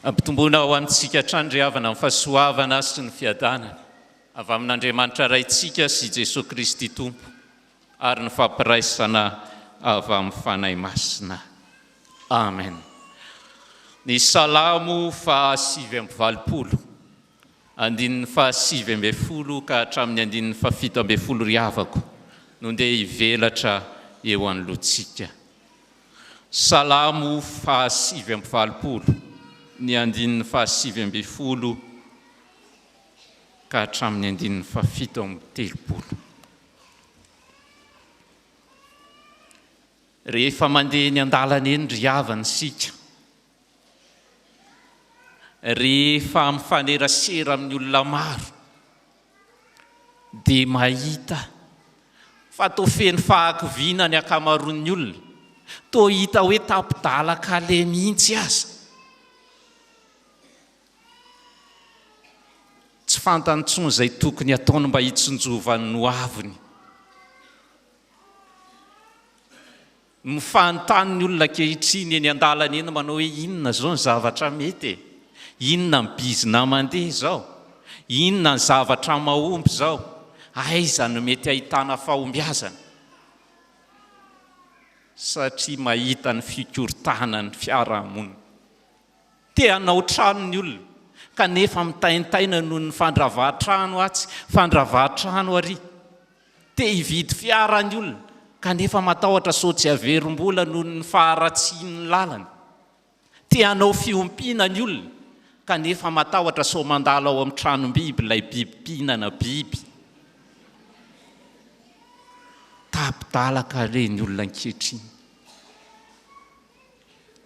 Ampitomboina ho antsika hatrany ry havana ny fahasoavana sy ny fiadanana avy amin'Andriamanitra Raintsika sy Jesoa Kristy Tompo. ary ny fampiraisana avy amin'ny Fanahy Masina. Amen. Ny Salamo faha sivy amby valopolo, andininy faha sivy ambin'ny folo ka hatramin'ny andininy faha fito ambin'ny folo ry havako no ndeha hivelatra eo anoloantsika. Salamo faha sivy amby valopolo, ny andininy faha sivy ambin'ny folo ka hatramin'ny andininy faha fito amby telopolo. Rehefa mandeha eny an-dalana eny ry havana isika, rehefa mifanerasera amin'ny olona maro dia mahita fa toa feno fahakiviana ny ankamaroan'ny olona, toa hita hoe tapi-dalan-kaleha mihitsy aza. Tsy fantany intsony izay tokony hataony mba hitsinjovan'ny hoaviny. Mifanontany ny olona ankehitriny eny an-dalana eny manao hoe inona izao ny zavatra mety e? Inona ny bizina mandeha izao? Inona ny zavatra mahomby izao? Aiza no mety hahitana fahombiazana? Satria mahita ny fikorontanan'ny fiarahamonina. Te hanao trano ny olona kanefa mitaintaina noho ny fandravahan-trano atsy, fandravahan-trano ary. Te hividy fiara ny olona kanefa matahotra sao tsy haverim-bola noho ny faharatsian'ny lalana. Te hanao fiompiana ny olona kanefa matahotra sao mandalo ao amin'ny tranom-biby ilay biby mpihinana biby. Tapi-dalaka re ny olona ankehitriny.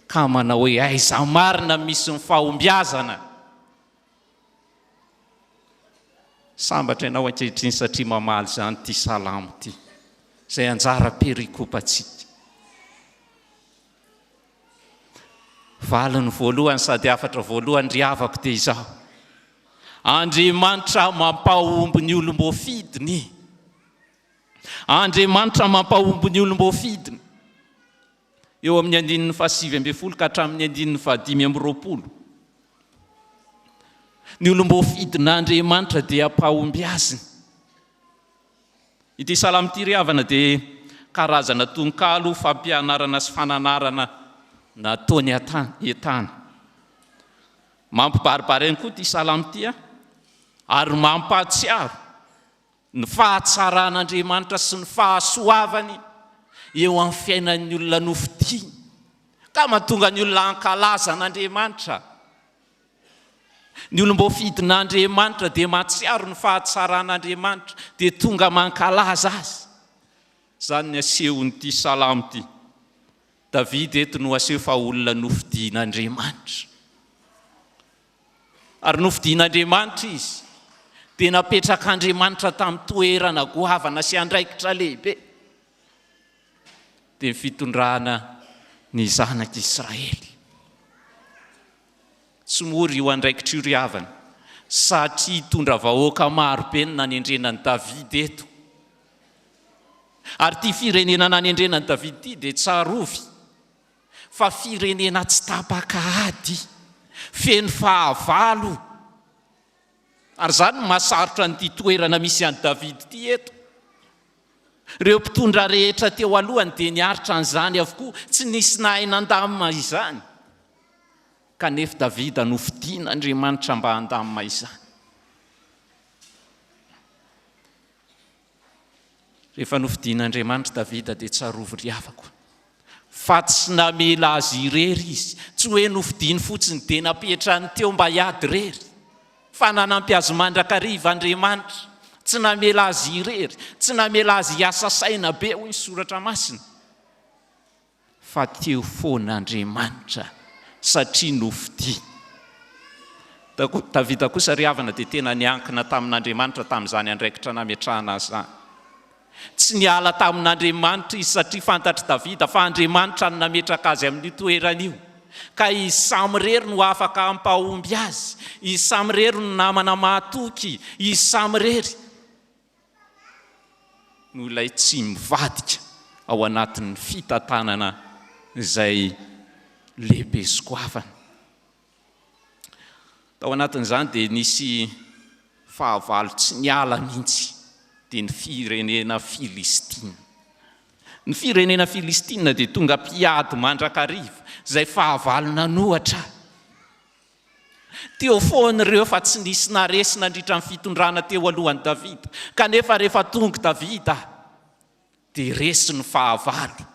Ka manao hoe aiza marina misy ny fahombiazana? Sambatra ianao ankehitriny satria mamaly izany ity salamo ity, izay anjara perikopantsika. Valiny voalohany sady hafatra voalohany ry havako dia izao, Andriamanitra mampahomby ny olom-boafidiny. Andriamanitra mampahomby ny olom-boafidiny. eo amin'ny andininy fahasivy ambin'ny folo ka hatramin'ny andininy fahadimy amby roapolo, ny olom-boafidin'Andriamanitra dia am-pahombiaziny. Ity salamo ity ry havana dia karazana tononkalo fampianarana sy fananarana nataony an-tany. Mampibaribary ihany koa ity salamo ity ary mampahatsiaro Ny fahatsaran'Andriamanitra sy ny fahasoavany eo amin'ny fiainan'ny olona nofidiany ka mahatonga ny olona hankalaza an'Andriamanitra. Ny olom-boafidin'Andriamanitra dia mahatsiaro ny fahatsaran'Andriamanitra dia tonga mankalaza Azy. Izany no asehon'ity salamo ity. Davida eto no aseho fa olona nofidian'Andriamanitra. Ary nofidin'Andriamanitra izy, dia napetrak'Andriamanitra tamin'ny toerana goavana sy andraikitra lehibe, dia ny fitondrana ny zanak'Israely. Tsy mora io andraikitra io ry havana, satria hitondra vahoaka maro be ny nanendrena an'i Davida eto. Ary ity firenena nanendrena an'i Davida ity dia tsarovy, fa firenena tsy tapaka ady, feno fahavalo, ary izany no mahasarotra an'ity toerana misy an'i David ity eto. Ireo mpitondra rehetra teo alohany dia niaritra an'izany avokoa, tsy nisy nahay nandamina izany, kanefa David no fidin'Andriamanitra mba handamina izany. Rehefa nofidin'Andriamanitra Davida dia tsarovy ry havako fa tsy namela azy irery izy, tsy hoe nofidiny fotsiny dia napetrany teo mba hiady irery fa nanampy azy mandrakariva Andriamanitra, tsy namela azy irery, tsy namela azy hiasa saina be hoy ny soratra masina. Fa teo foana Andriamanitra satria nofidiany. Davida kosa ry havana dia tena niankina tamin'Andriamanitra tamin'izany andraikitra nametrahana azy izany. Tsy niala tamin'Andriamanitra izy satria fantatr'i Davida fa Andriamanitra no nametraka azy amin'io toerana io. Ka i Samy irery no afaka hampahomby azy, i Samy irery no namana mahatoky i Samy irery. no ilay tsy mivadika ao anatin'ny fitantanana izay lehibe sy goavana. Tao anatin'izany dia nisy fahavalo tsy niala mihitsy, dia ny firenena Filistina. Ny firenena Filistina dia tonga mpiady mandrakariva, izay fahavalo nanohatra Teo foana ireo fa tsy nisy naharesy nandritra ny fitondrana teo alohan'i Davida, kanefa rehefa tonga Davida dia resy ny fahavalo.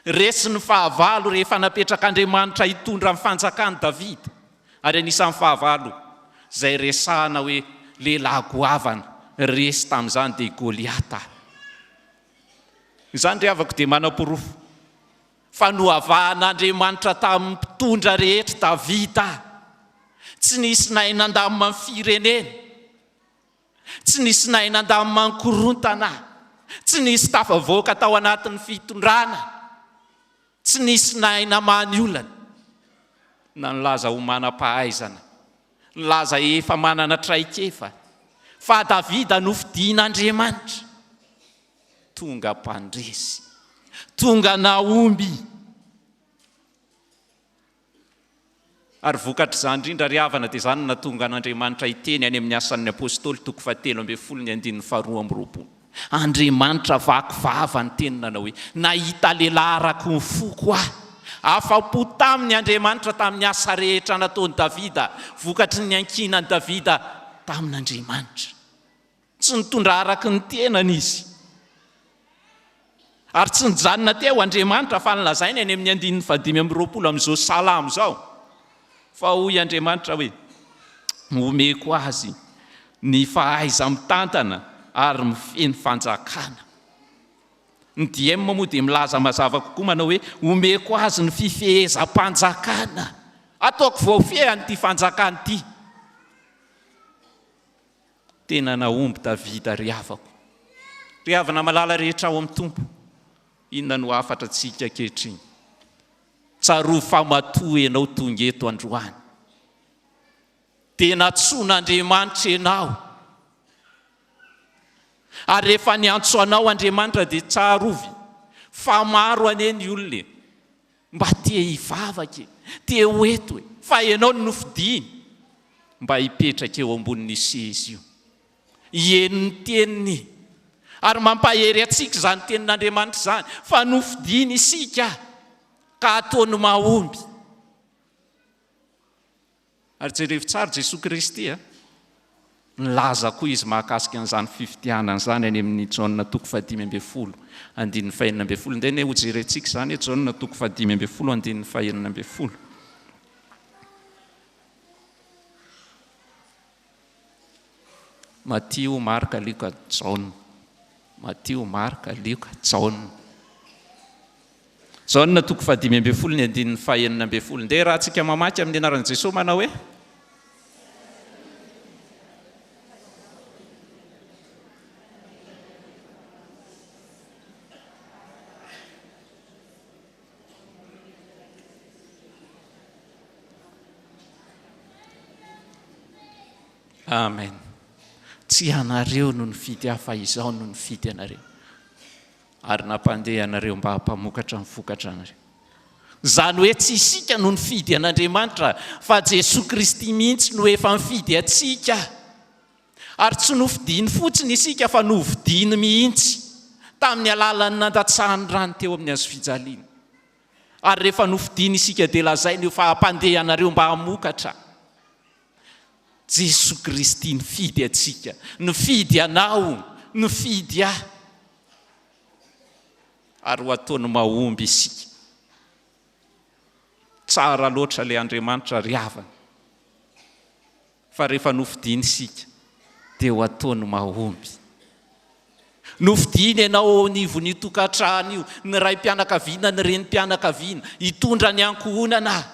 Resy ny fahavalo rehefa napetrak'Andriamanitra hitondra ny fanjakan'i Davida. Ary anisan'ny fahavalo izay resahana hoe lehilahy goavana resy tamin'izany dia i Goliata. Izany ry havako dia manaporofo. Fa nohavahan'Andriamanitra tamin'ny mpitondra rehetra Davida, tsy nisy nahay nandamina ny firenena, tsy nisy nahay nandamina ny korontana, tsy nisy tafavoaka tao anatin'ny fitondrana, tsy nisy nahay namaha ny olana, na nilaza ho manam-pahaizana, nilaza efa manana traikefa, fa Davida nofidian'Andriamanitra. Tonga mpandresy. Tonga nahomby. Ary vokatr'izany indrindra ry havana dia izany no nahatonga an'Andriamanitra hiteny any amin'ny Asan'ny Apostoly toko fahatelo ambin'ny folo ny andininy faharoa amby roapolo. Andriamanitra vaky vava niteny nanao hoe, Nahita lehilahy araka ny foko aho. Afa-po taminy Andriamanitra tamin'ny asa rehetra nataon'i Davida vokatry ny niankinan'i Davida tamin'Andriamanitra. Tsy nitondra araka ny tenany izy, ary tsy nijanona teo Andriamanitra, fa nolazaina eny amin'ny andininy fahadimy amby roapolo amin'izao Salamo izao, fa hoy Andriamanitra hoe, Omeko azy ny fahaiza-mitantana ary mifehy ny fanjakana. Ny DM moa dia milaza mazava kokoa manao hoe, Omeko azy ny fifehezam-panjakana. Ataoko voafehiny ity fanjakana ity. Tena nahomby Davida ry havako. Ry havana malala rehetra ao amin'ny Tompo, inona no hafatra antsika ankehitriny? Tsarovy fa matoa ianao tonga eto androany, dia nantsoin'Andriamanitra ianao. Ary rehefa niantso anao Andriamanitra dia tsarovy fa maro anie ny olona e. Mba te hivavaka e! Te ho eto e! Fa Ianao no nofidiny mba hipetraka eo ambonin'io seza io. Heno ny Teniny. Ary mampahery antsika izany Tenin'Andriamanitra izany, fa nofidiny isika ka ataony mahomby. Ary jerevo tsara Jesoa Kristy a! Nilaza koa Izy mahakasika an'izany fifidianana izany any amin'ny Jaona toko fahadimy ambin'ny folo andininy fahenina ambin'ny folo. Ndeha anie hojerentsika izany e, Jaona toko fahadimy ambin'ny folo andininy fahenina ambin'ny folo. Matio, Marka, Lioka, Jaona. Matio, Marka, Lioka, Jaona. Jaona toko fahadimy ambin'ny folo ny andininy fahenina ambin'ny folo. Ndeha rahantsika mamaky amin'ny anaran'i Jesoa manao hoe. Amen. Tsy ianareo no nifidy ahy fa izaho no nifidy anareo. Ary nampandeha anareo mba hampamokatra ny vokatra anareo. Izany hoe tsy isika no nifidy an'Andriamanitra fa Jesoa Kristy mihitsy no efa nifidy antsika. Ary tsy nofidiny fotsiny isika fa novidiny mihitsy tamin'ny alalan'ny nandatsahany rany teo amin'ny hazofijaliana. Ary rehefa nofidiny isika dia lazainy io fa hampandeha anareo mba hamokatra. Jesoa Kristy nifidy antsika, nifidy anao, nifidy ahy. Ary ho ataony mahomby isika. Tsara loatra ilay Andriamanitra ry havana. Fa rehefa nofidiny isika dia ho ataony mahomby. Nofidiny ianao eo anivon'io tokantrano io, ny raim-pianakaviana, ny renim-pianakaviana, hitondra ny ankohonana.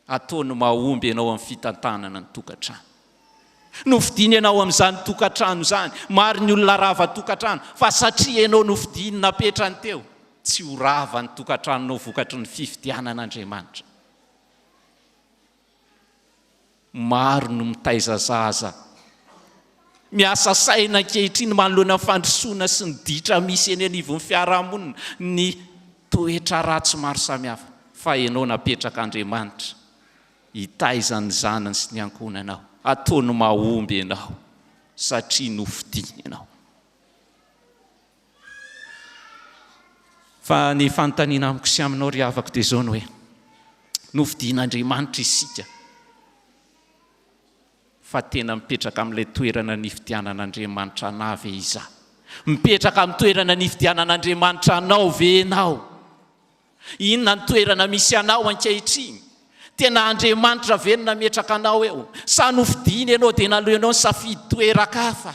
Ataony mahomby ianao amin'ny fitantanana ny tokantrano. Nofidiny ianao amin'izany tokantrano izany. Maro ny olona rava tokantrano, fa satria ianao nofidiny napetrany teo, tsy ho rava ny tokantranonao vokatry ny fifidianan'Andriamanitra. Maro no mitaiza zaza miasa saina ankehitriny manoloana ny fandrosoana sy ny ditra misy eny anivon'ny fiarahamonina, ny toetra ratsy maro samihafa. Fa ianao napetraka Andriamanitra hitaiza ny zanany sy ny ankohonanao. Ataony mahomby ianao satria nofidiny ianao. Fa ny fanontaniana amiko sy aminao ry havako dia izao ny hoe, nofidian'Andriamanitra isika fa tena mipetraka amin'ilay toerana nifidianan'Andriamanitra anah ve izaho? Mipetraka amin'ny toerana nifidianan'Andriamanitra anao ve ianao? Inona ny toerana misy anao ankehitriny? Tena Andriamanitra ve no nametraka anao eo? Sa nofidiany ianao dia naleonao nisafidy toeran-kafa?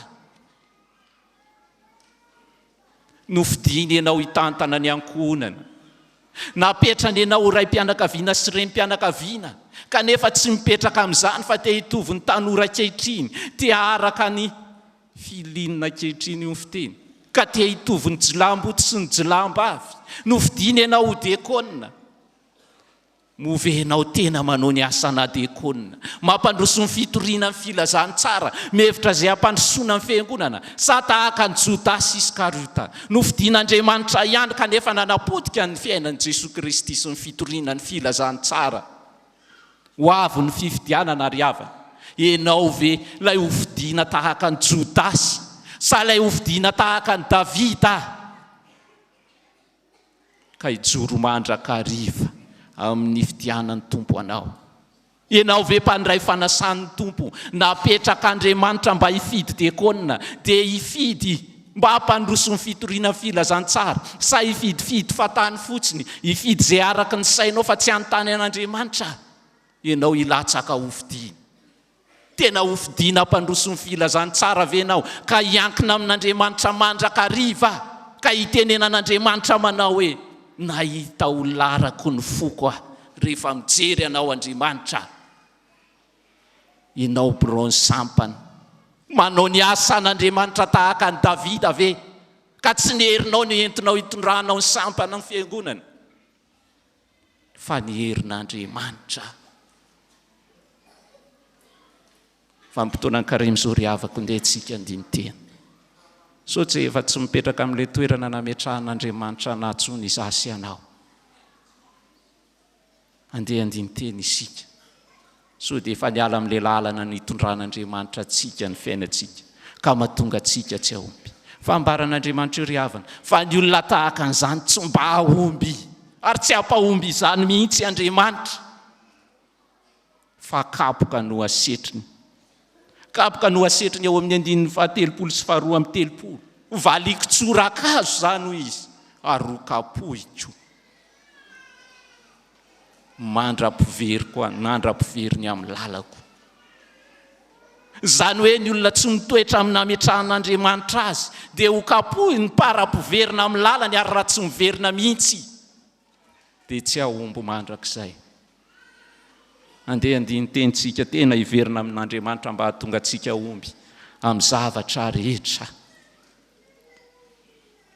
Nofidiny ianao hitantana ny ankohonana. Napetrany ianao ho raim-pianakaviana sy renim-pianakaviana, kanefa tsy mipetraka amin'izany fa te hitovy ny tanora ankehitriny, te haharaka ny filiana ankehitriny, hoy ny fiteny, ka te hitovy ny jilamboto sy ny jilambavy. Nofidiny ianao ho diakona. Move enao tena manao ny asa na dia kôna mampandroso ny fitoriana ny filazantsara mihevitra izay hampandrosoana ny fiangonana sa tahaka an'i Jodasy Iskariota nofidin'Andriamanitra ihany kanefa nanapotika ny fiainan'i Jesoa Kristy sy ny fitoriana ny filazantsara ho avy ny fifidianana ary havana enao ve ilay hofidina tahaka an'i Jodasy sa ilay hofidina tahaka an'i Davida ka hijoro mandrakariva amin'ny fidianan'ny Tompo anao. Ianao ve mpandray fanasan'ny Tompo napetrak'Andriamanitra mba hifidy diakona, dia hifidy mba hampandroso ny fitoriana ny filazantsara, sa hifidifidy fahatany fotsiny, hifidy izay araka ny sainao fa tsy hanontany an'Andriamanitra ianao hilatsaka hofidiany? Tena hofidiana hampandroso ny filazantsara ve ianao ka hiankina amin'Andriamanitra mandrakariva ka hitenenan'Andriamanitra manao hoe, Nahita ho larako ny foko aho rehefa mijery anao Andriamanitra aho. Ianao biraon'ny sampany. Manao ny asan'Andriamanitra tahaka an'i Davida ve ka tsy ny herinao no entinao hitondranao ny sampan'ny fiangonana? fa ny herin'Andriamanitra. Vanim-potoana an-karemy izao ry havako, ndeha antsika handini-tena. Sao tsy efa tsy mipetraka amin'ilay toerana nametrahan'Andriamanitra anà intsony izaho sy ianao? Andeha handini-tena isika. Sao dia efa niala amin'ilay lalana nitondran'Andriamanitra antsika ny fiainantsika, ka mahatonga antsika tsy hahomby? Fambaran'Andriamanitra io ry havana, fa ny olona tahaka an'izany tsy mba hahomby, ary tsy hampahomby izany mihitsy Andriamanitra, fa kapoka no hasetriny. Kapoka no hasetriny ao amin'ny andininy fahatelopolo sy faharoa amby telopolo. Hovaliako tsorakazo izany, hoy izy, ary hokapohiko. mandra-piveriko an, mandra-pivery ny amin'ny lalako. Izany hoe ny olona tsy mitoetra amin'ny nametrahan'Andriamanitra azy dia ho kapohiny para-piverina amin'ny lalany ary raha tsy miverina mihitsy dia tsy hahomby mandrakizay. Andeha andinin-teny tsika tena hiverina amin'Andriamanitra mba hahatonga antsika omby amin'ny zavatra rehetra.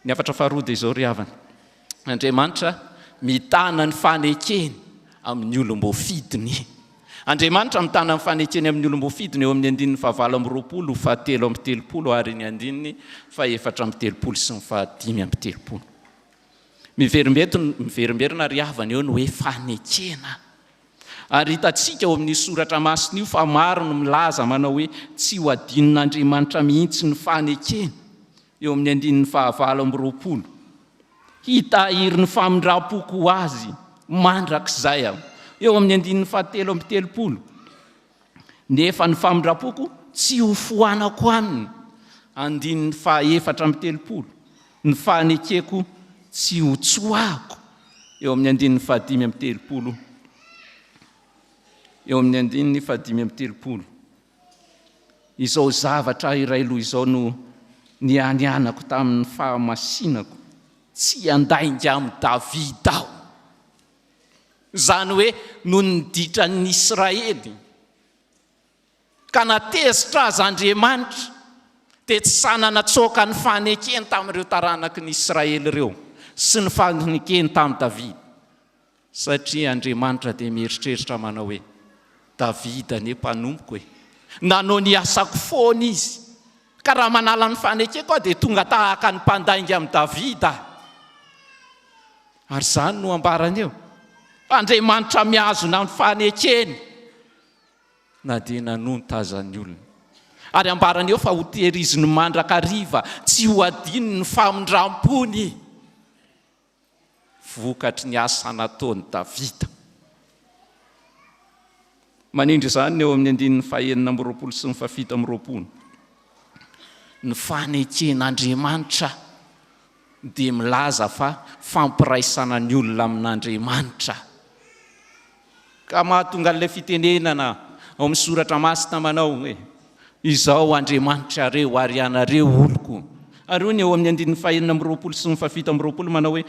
Ny hafatra faharoa dia izao ry havana, Andriamanitra mitana ny fanekeny amin'ny olom-boafidiny. Andriamanitra mitana ny fanekeny amin'ny olom-boafidiny eo amin'ny andininy fahavalo amby roapolo, fahatelo amby telopolo ary ny andininy fahefatra amby telopolo sy ny fahadimy amby telopolo. Miverimberina ry havana eo ny hoe fanekena. Ary hitantsika ao amin'io soratra masina io fa maro no milaza manao hoe tsy ho adinon'Andriamanitra mihitsy ny fanekena, eo amin'ny andininy fahavalo amby roapolo. Hitahiry ny famindram-poko ho azy mandrakizay aho, eo amin'ny andininy fahatelo amby telopolo. nefa ny famindram-poko tsy hofoanako aminy, andininy faha efatra amby telopolo, ny fanekeko tsy hotsoahako, eo amin'ny andininy faha dimy amby telopolo, eo amin'ny andininy faha dimy amby telopolo, izao zavatra iray loha izao no nianianako tamin'ny fahamasinako, tsy handainga amin'i Davida aho, izany hoe noho ny ditran'ny Israely, ka na tezitra aza Andriamanitra dia tsy sahy natsoaka ny fanekeny tamin'ireo taranaky ny Israely ireo sy ny fanekeny tamin'i Davida, satria Andriamanitra dia mieritreritra manao hoe, Davida anie mpanompoko e! nanao ny asako foana izy, ka raha manala ny fanekeko aho dia tonga tahaka ny mpandainga amin'i Davida aho. Ary izany no ambarany eo, fa Andriamanitra mihazona ny fanekeny na dia nanonta aza ny olona. Ary ambarany eo fa hotehiriziny mandrakariva, tsy hohadinony ny famindram-pony, vokatry ny asa nataon'i Davida. Manindry izany ny eo amin'ny andininy fahenina amby roapolo sy ny fahafito amby roapolo. Ny faneken'Andriamanitra dia milaza fa fampiraisana ny olona amin'Andriamanitra. Ka mahatonga an'ilay fitenenana ao amin'ny Soratra Masina manao hoe, Izaho Andriamanitrareo ary ianareo oloko. Ary hoy ny eo amin'ny andininy fahenina amby roapolo sy ny fahafito amby roapolo manao hoe,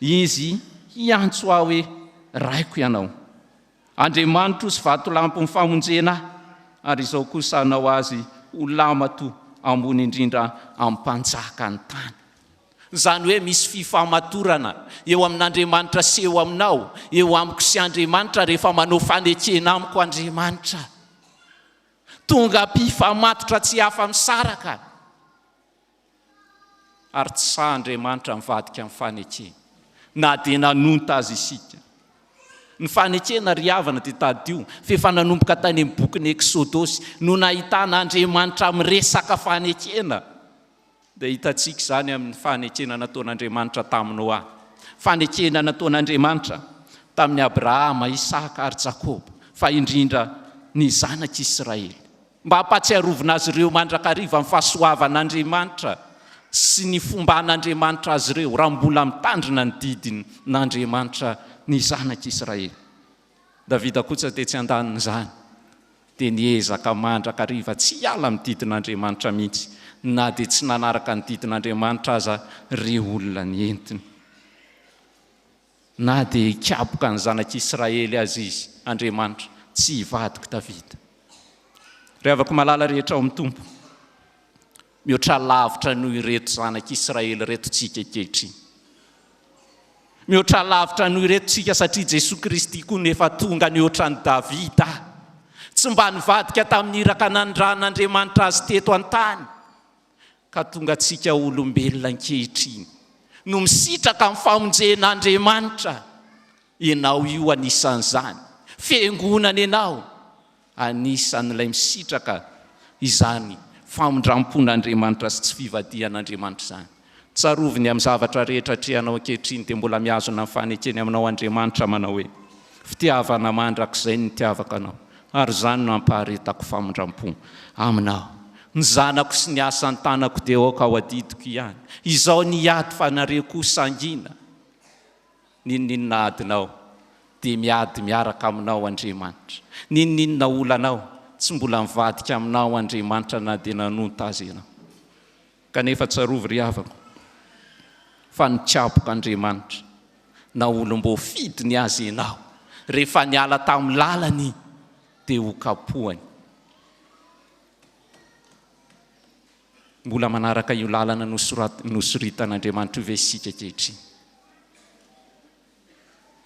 Izy hiantso ahy hoe, Raiko ianao. Andriamanitro sy vatolampin'ny famonjena ahy, ary izao kosa hanao azy ho lamato ambony indrindra amin'ny mpanjaka ny tany. Izany hoe misy fifamatorana eo amin'Andriamanitra sy eo aminao, eo amiko sy Andriamanitra rehefa manao fanekena amiko Andriamanitra. Tonga mpifamatotra tsy afa-misaraka. ary tsy sahy Andriamanitra mivadika amin'ny fanekena na dia nanonta azy isika. Ny fanekena ry havana dia tadidio fa efa nanomboka tany amin'ny bokin'ny Eksodosy no nahitana Andriamanitra miresaka fanekena dia hitantsika izany amin'ny fanekena nataon'Andriamanitra tamin'i Noa, fanekena nataon'Andriamanitra tamin'i Abrahama, Isaka ary Jakoba fa indrindra ny zanak'Israely. mba hampatsiarovina azy ireo mandrakariva ny fahasoavan'Andriamanitra sy ny fomban'Andriamanitra azy ireo raha mbola mitandrina ny didin'Andriamanitra ny zanak'Israely. Davida kosa tetsy an-danin'izany dia niezaka mandrakariva tsy hiala amin'ny didin'Andriamanitra mihitsy na dia tsy nanaraka ny didin'Andriamanitra aza ireo olona nentiny. Na dia hikaboka ny zanak'i Israely aza izy, Andriamanitra, tsy hivadik'i Davida. Ry havako malala rehetra ao amin'ny Tompo, mihoatra lavitra noho ireto zanak'i Israely ireto tsika ankehitriny. Mihoatra lavitra noho ireto tsika satria Jesoa Kristy koa no efa tonga nihoatra an'i Davida. Tsy mba nivadika tamin'ny iraka nanindran'Andriamanitra azy teto an-tany. Ka tonga antsika olombelona ankehitriny no misitraka amin'ny famonjen'Andriamanitra, ianao io anisan'izany, fiangonana ianao anisan'ilay misitraka izany famindram-pon'Andriamanitra sy tsy fivadihan'Andriamanitra izany. Tsarovy ny amin'ny zavatra rehetra atrehanao ankehitriny dia mbola mihazona ny fanekeny aminao Andriamanitra manao hoe, Fitiavana mandrakizay ny nitiavako anao. ary izany no ampaharetako famindram-po Aminao. Ny zanako sy ny asa an-tanako dia aoka ho adidiko ihany. Izao ny ady fa nareo koa sangina. N'inon'inona adinao dia miady miaraka Aminao Andriamanitra. N'inon'inona olanao, tsy mbola mivadika Aminao Andriamanitra na dia nanonta aza ianao. Kanefa tsarovy ry havako fa nitsabok'Andriamanitra na olom-boafidiny aza ianao rehefa niala tamin'ny lalany dia ho kapohany. Mbola manaraka io lalana nosoritan'Andriamanitra io ve isika ankehitriny?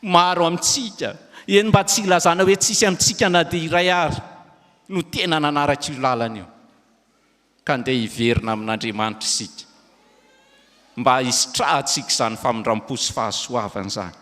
Maro amintsika, eny mba tsy hilazana hoe tsisy amintsika na dia iray ary, no tena nanaraka io lalana io. Ka ndeha hiverina amin'Andriamanitra isika mba hisitrahantsika izany famindram-po sy fahasoavana izany.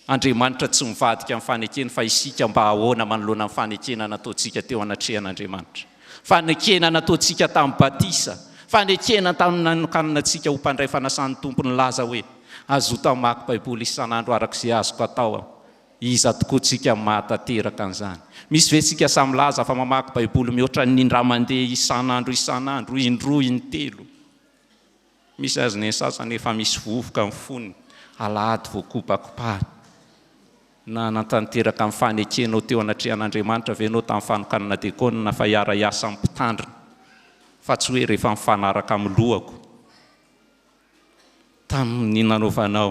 Andriamanitra tsy mivadika amin'ny fanekena fa isika mba ahoana manoloana ny fanekena nataontsika teo anatrehan'Andriamanitra. Fanekena nataontsika tamin'ny batisa, fanekena tamin'ny nanokanana antsika ho mpandray fanasan'ny Tompo nilaza hoe, Azoto hamaky Baiboly isan'andro araka izay azoko atao. Iza tokoa tsika mahatanteraka an'izany? Misy ve tsika sahy milaza fa mamaky baiboly mihoatra ny indray mandeha isan'andro isan'andro, indroa, intelo? Misy aza ny sasany efa misy vovoka ny fony, alahady vao kopakopahina. Nanatanteraka ny fanekenao teo anatrehan'Andriamanitra ve ianao tamin'ny fanokanana diakona fa hiara-hiasa amin'ny mpitandrina, fa tsy hoe rehefa mifanaraka amin'ny lohako? tamin'ny nanaovanao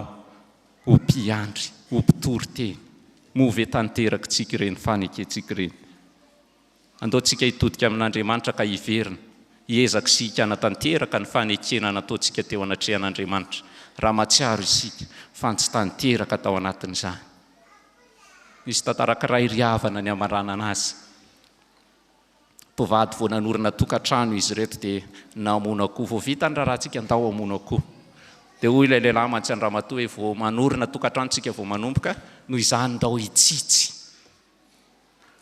ho mpiandry, ho mpitory teny. Moa ve tanterakitsika ireny fanekentsika ireny? Andeontsika hitodika amin'Andriamanitra ka hiverina, hiezaka isika hanatanteraka ny fanekena nataontsika teo anatrehan'Andriamanitra, raha mahatsiaro isika fa tsy tanteraka tao anatin'izany. Nisy tantara ankiray ry havana niamaranana azy. mpivady vao nanorina tokantrano izy ireto dia namono akoho, vao vita ny raharahantsika ndao hamono akoho, dia hoy ilay lehilahy mantsy an-dramatoa hoe vao manorina tokantrano isika vao manomboka, noho izany ndao hitsitsy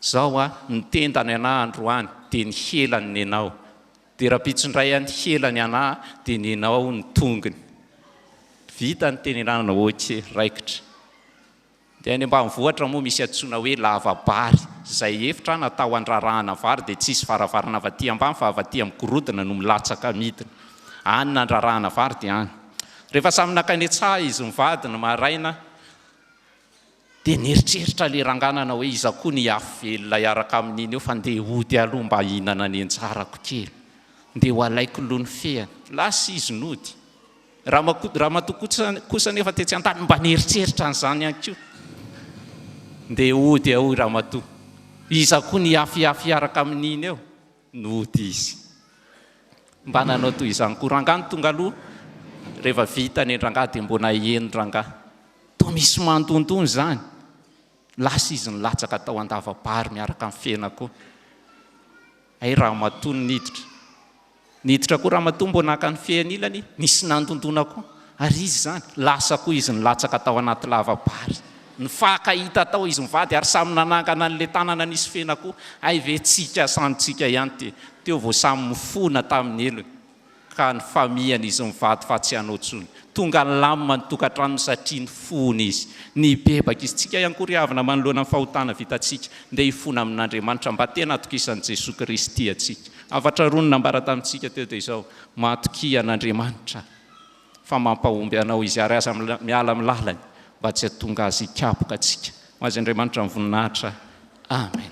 zao hoa ny tenda ny anah androany dia ny hela ny nenao, dia rahampitso indray hoa ny hela ny anah dia nenao ny tongony, vita ny tenelanana ok raikitra. Dia any ambanivohitra moa misy antsoina hoe lava-bary, izay efitra natao handrarahana vary dia tsisy varavarana avy aty ambany fa avy aty amin'ny gorodona no milatsaka midina. Any nandrarahana vary dia any. Rehefa samy nankany an-tsaha izy mivady ny maraina dia nieritreritra ilay rangahy nanao hoe iza koa no hiafy velona hiaraka amin'iny eo fa ndeha hody aloha mba hihinana ny anjarako kely. Ndeha ho alaiko loha ny fehiny. Lasa izy nody. Ramatoa kosa anefa tetsy an-tany mba nieritreritra an'izany ihany koa. Ndeha hody ao i ramatoa. Iza koa nihafihafy hiaraka amin'iny eo? Nody izy. Mba nanao toy izany koa rangahy no tonga aloha. Rehefa vita ny an-drangahy dia mbola hieno rangahy. Toa misy mandondona izany. Lasa izy nilatsaka tao an-dava-bary miaraka amin'ny fena koa. Hay ramatoa no niditra. Niditra koa ramatoa mbo naka ny fehy anilany, nisy nandondona koa, ary izy izany, lasa koa izy nilatsaka tao anaty lava-bary. Nifaka hita tao izy mivady ary samy nanangana an'ilay tanana nisy fehina koa, hay ve tsika samy tsika ihany ity, teo vao samy mifona tamin'ny helony ka nifamihana izy mivady fa tsy hanao tsony. Tonga nilamina ny tokantranony satria nifona izy. Nibebaka izy, tsika ihany koa ry havana manoloana ny fahotana vitantsika, ndeha hifona amin'Andriamanitra mba tena hatokisan'i Jesoa Kristy antsika. Hafatra roa no nambara tamintsika teo dia izao, Matokia an'Andriamanitra fa mampahomby anao Izy ary aza miala amin'ny lalany mba tsy hahatonga Azy hikapoka antsika. Ho azy Andriamanitra ny voninahitra. Amen.